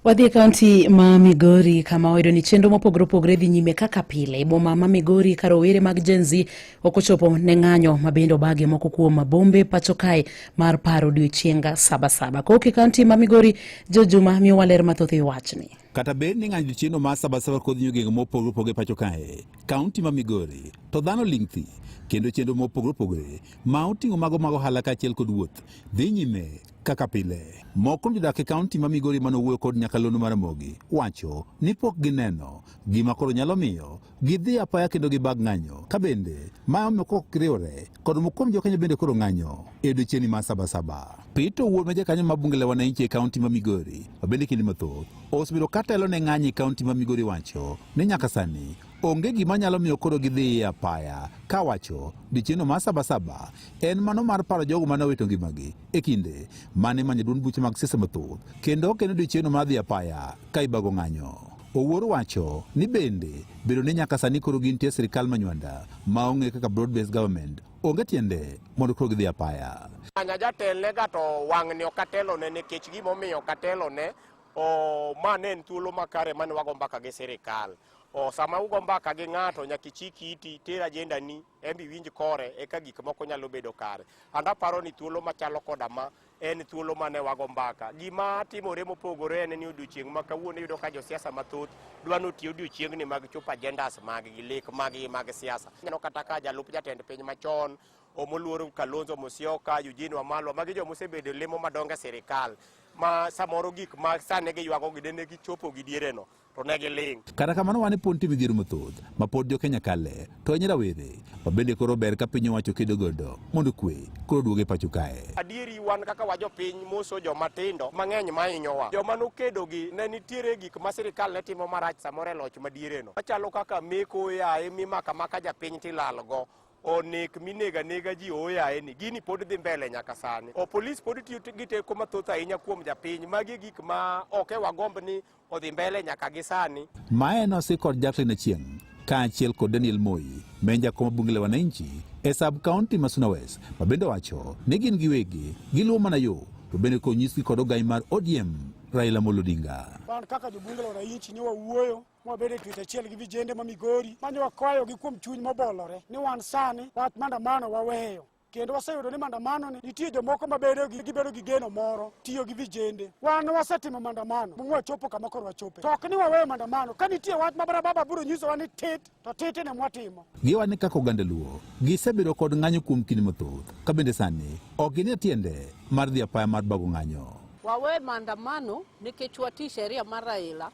Wadhi e kaunti ma Migori kama oyudo ni chenro mopogore opogore dhi nyime kaka pile. E boma ma Migori ka rowere mag Gen Z ok ochopo ne ng'anyo ma bende obage moko kuom mabombe pacho kae mar paro odiechienga sabasaba. Kok e kaunti ma Migori, Jo Juma miyowa ler mathoth e wachni. Kata bed ni ng'anyo odiechiengno mar sabasaba kod nyogego mopogore opogore pacho kae, kaunti ma Migori to dhano ling' thi kendo chenro mopogore opogore ma oting'o mago mag ohala kaachiel kod wuoth dhi nyime kaka pile. Moko kuom jodak e kaunti ma Migori mane owuoyo kod nyakalondo mar Ramogi wacho ni pok gineno gima koro nyalo miyo gidhi apaya kendo gibag ng'anyo ka bende ma omiyo kok riwore kod moko kuom jokenya bende koro ng'anyo e odiechieng'ni ma sabasaba. Peter Owuor ma jakanyo ma bunge la wananchi e kaunti ma Migori ma bende kinde mathoth osebedo ka telo ne ng'anyo e kaunti ma Migori wacho ni nyaka sani Onge gima nyalo miyo koro gidhi e apaya ka wacho dichieno mar sabasaba en mano mar paro jogo mane owito ngimagi e kinde mane manyo duond buche mag siasa mathoth kendo ok en dichieno mar dhi apaya ka ibago ng'anyo. Owuor wacho ni bende bedo ni nyaka sani koro gintie e sirkal manywanda ma ong'e kaka broad based government onge tiende mondo koro gidhi apaya. Anya jatelne ga to wang'ni ok atelone nikech gimomiyo ok atelone o ma ne en thuolo makare mane wago mbaka gi sirkal. O, sama ugo mbaka gi ng'ato nyaka ichik iti ter ajendani embe iwinj kore eka gik moko nyalo bedo kare and aparo ni thuolo machalo koda ma en thuolo mane wago mbaka gima timore mopogore en ni odiochieng' ma kawuono iyudo ka josiasa mathoth dwa notiyo odiochieng'ni mag chopo agendas maggi lek maggi mag siasa neno kata ka jalup jatend piny machon omoluor kalonzo musyoka eugene wamalwa magi joma osebedo lemo madongo e sirikal ma samoro gik ma sani giywago gi dende gichopo gi diereno to ne giling'. Kata kamano wan e pod nitie midhiero mathoth ma pod jo Kenya kale to ahinya rawere ma bende koro ber ka piny owacho kedo godo mondo kwe koro duoge pacho kae. Adieri wan kaka wajo piny moso joma tindo mang'eny ma hinyowa. Joma nokedo gi ne nitiere gik ma sirikal ne timo marach samoro e loch madiereno. Machalo kaka meko oyaye mimaka maka japiny tilalgo onek minega nega ji oyaye ni gini pod dhi mbele nyaka sani. O polis pod tiyo gi teko mathoth ahinya kuom japiny. Magi gik ma ok e wagomb ni odhi mbele nyaka gi sani. Mae nosi kod Jacqueline Achieng kaachiel kod Daniel Moi menja kom bunge la wananchi e sub county ma Suna West ma bende wacho ni gin giwegi giluwo mana yo to bende konyisgi kod ogai mar ODM Raila Amolo Odinga. Wan kaka jobunge la wananchi ne wawuoyo mwabedo e twech achiel gi vijende ma Migori mane wakwayogi kuom chuny mobolore ni wan sani wach maandamano waweyo kendo waseyudo ni mandamano ni nitie jomoko mabedo gibedo gi geno moro tiyo gi vijende wan wasetimo mandamano mwa chopo kama koro wachope to ok ni waweyo mandamano ka nitie wach ma barababa biro nyisowa ni tit to titi ne mwatimo giwa ni kaka oganda luo gisebedo kod ng'anyo kuom kinde mathoth ka bende sani ok ginie tiende mar dhi apaya mar bago ng'anyo wawe mandamano nikech wati sheria mar raila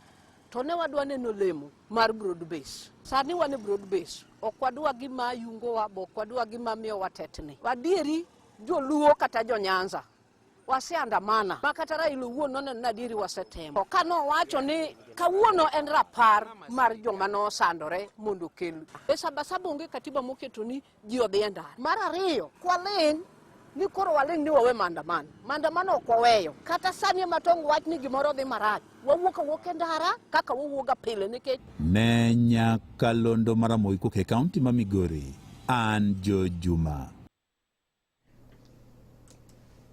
to ne wadwa neno lemo mar broad base. Sani wan e broad base, ok wadwa gima yungowa, be ok wadwa gima miyowa tetni. Adieri joluo kata jo Nyanza waseandamana ma kata Raila owuon noneno ni adieri wasetemo. Ka nowacho ni kawuono en rapar mar joma nosandore mondo okel e sabasaba, onge katiba moketo ni ji odhi e ndara. Mar ariyo, kwaling' ni koro waling' ni wawe maandamano. Maandamano ok waweyo. Kata sani ema tong' wach ni gimoro dhi marach. Wawuok awuok e ndara kaka wawuoga pile nikech Ne nyakalondo mar Ramogi kok e kaunti ma Migori, an Joe Juma.